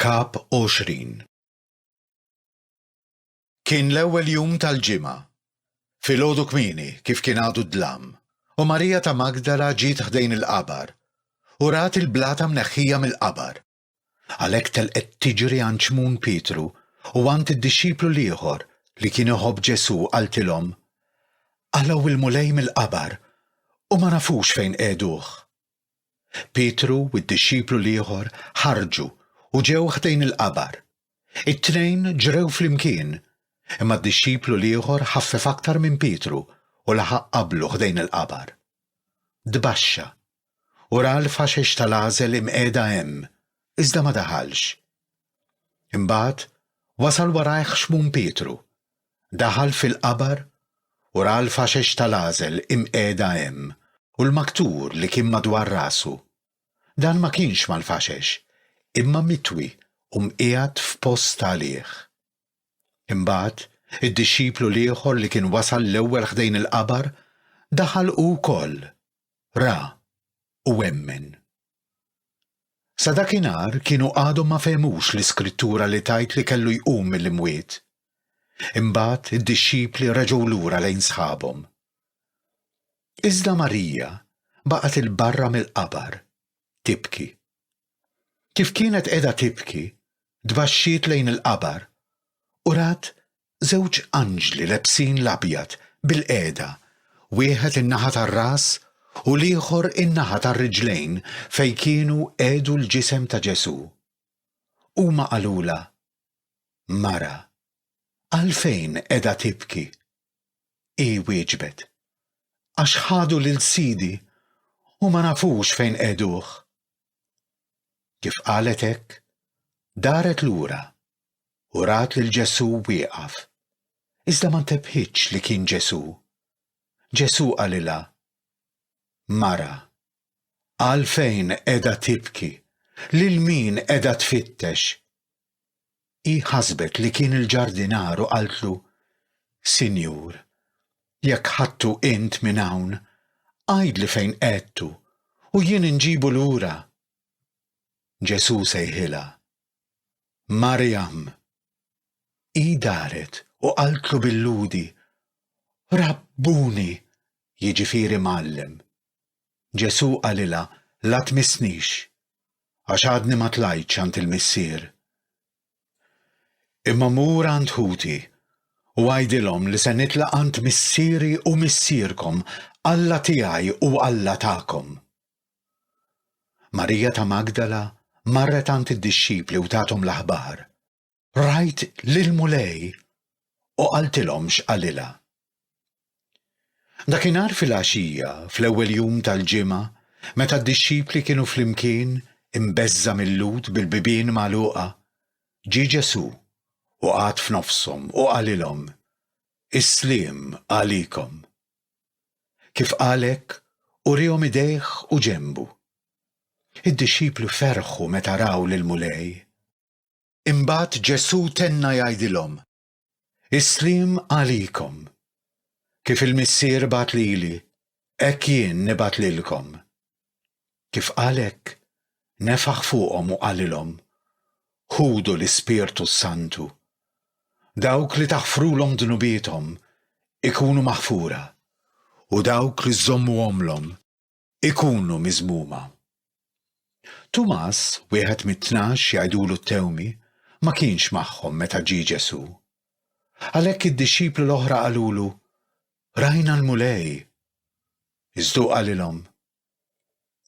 Kap 20 Kien l-ewwel jum tal-ġimgħa. Filgħodu kmieni, kif kien għadu d-dlam, u Marija ta' Magdala ġiet ħdejn il-qabar, u rat il-blata mneħħija mill-qabar. Għalhekk telqet tiġri għand Xmun Pietru u għand id-dixxiplu l-ieħor li kien iħobb Ġesù u qaltilhom, Qalgħu l-Mulej mill-qabar u ma nafux fejn qegħduh. Pietru u d-dixxiplu l-ieħor ħarġu u ġew ħdejn il-qabar. It-tnejn ġrew flimkien, imma d-dixxiplu l-ieħor ħaffef aktar minn Pietru u laħaq qablu ħdejn il-qabar. Tbaxxa u ra l-faxex tal-għażel imqiegħda hemm, iżda ma daħalx. Imbagħad wasal warajh Xmun Pietru, daħal fil-qabar u ra l-faxex tal-għażel imqiegħda hemm u l-maktur li kien madwar rasu. Dan ma kienx mal-faxex, imma mitwi u mqiegħed f'post għalih. Imbagħad, id-dixxiplu l-ieħor li kien wasal l-ewwel ħdejn il-qabar, daħal hu wkoll ra u emmen. Sa dakinhar kienu għadhom ma fehmux l-iskrittura li tgħid li kellu jqum mill-imwiet. Imbagħad id-dixxipli reġgħu lura lejn sħabhom. Iżda Marija baqgħet 'il barra mill-qabar, tibki. Kif kienet qiegħda tibki, tbaxxiet lejn il-qabar u rat żewġ anġli lebsin l-abjad bilqiegħda, wieħed in-naħa tar-ras u l-ieħor in-naħa tar-riġlejn fejn kienu qiegħdu l-ġisem ta' Ġesù. Huma qalulha, Mara, għalfejn qiegħda tibki? Hi wieġbet, Għax ħadu lil Sidi u ma nafux fejn qegħduh. Kif qalet hekk, daret lura u rat lil Ġesù wieqaf, iżda ma ntebħitx li kien Ġesù. Ġesù qalilha, Mara, għalfejn qiegħda tibki? Lil min qiegħda tfittex? Hi ħasbet li kien il-ġardinar u qaltlu, Sinjur, jekk ħadtu int minn hawn, għidli fejn qegħdtu u jien inġibu lura. Ġesù sejħilha, Marjam! Hi daret u qaltlu bil-Lhudi, Rabbuni, jiġifieri Mgħallem. Ġesù qalilha, La tmissnix, għax għadni ma tlajtx għand il-Missier. Imma mur għand ħuti u għidilhom li se nitlaq għand Missieri u Missierkom, Alla tiegħi u Alla tagħkom. Marija ta' Magdala marret għand id-dixxipli u tathom l-aħbar. Rajt lill-Mulej u qaltilhom x'qalilha. Dakinhar filgħaxija, fl-ewwel jum tal-ġimgħa, meta d-dixxipli kienu flimkien, imbeżża' mil-Lhud bil-bibien magħluqa, ġie Ġesù u qagħad f'nofshom u qalilhom, Is-sliem għalikom. Kif qal hekk, uriehom idejh u ġenbu. Id-dixxipli ferħu meta raw lill-Mulej. Imbagħad Ġesù tenna jgħidilhom, Is-sliem għalikom. Kif il-Missier bagħat lili, hekk jien nibgħat lilkom. Kif qal hekk, nefaħ fuqhom u qalilhom, Ħudu l-Ispirtu s-Santu. Dawk li taħfrulhom dnubiethom ikunu maħfura, u dawk li żżommuhomlhom ikunu miżmuma. Tumas, wieħed mit-tnax jgħidulu t-tewmi, ma kienx magħhom meta ġie Ġesù. Għalhekk id-dixxipli l-oħra qalulu, Rajna l-Mulej! Iżda hu qalilhom,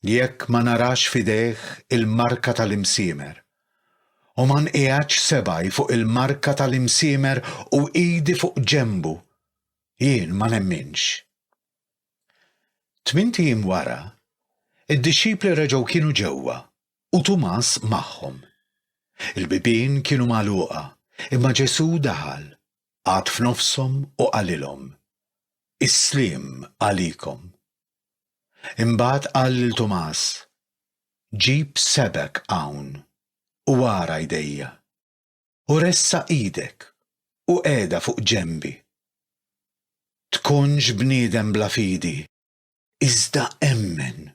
Jekk ma narax f'idejh il-marka tal-imsiemer, u ma nqiegħedx sebgħi fuq il-marka tal-imsiemer u idi fuq ġenbu, jien ma nemminx. Tmint ijiem wara, id-dixxipli reġgħu kienu ġewwa u Tumas magħhom. Il-bibien kienu magħluqa, imma Ġesù daħal, qagħad f'nofshom u qalilhom, Is-sliem għalikom. Imbagħad qal lil Tumas, Ġib sebgħek hawn u ara jdejja. u ressaq idek u qiegħda fuq ġenbi. Tkunx bniedem bla fidi, iżda emmen.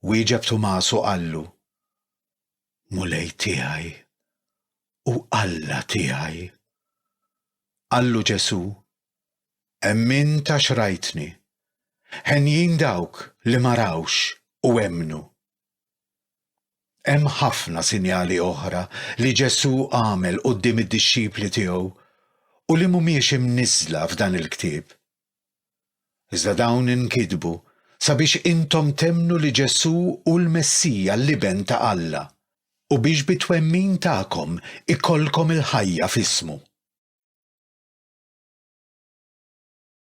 Wieġeb Tumas u qallu, Mulej tiegħi u Alla tiegħi. Qallu Ġesù, Emmint għax rajtni. Henjin dawk li ma rawx u emmnu. Hemm ħafna sinjali oħra li Ġesù għamel quddiem id-dixxipli tiegħu u li mhumiex imniżżla f'dan il-ktieb. Iżda dawn inkitbu sabiex intom temmnu li Ġesù hu l-Messija, l-Iben ta' Alla, u biex bit-twemmin tagħkom ikollkom il-ħajja f'ismu.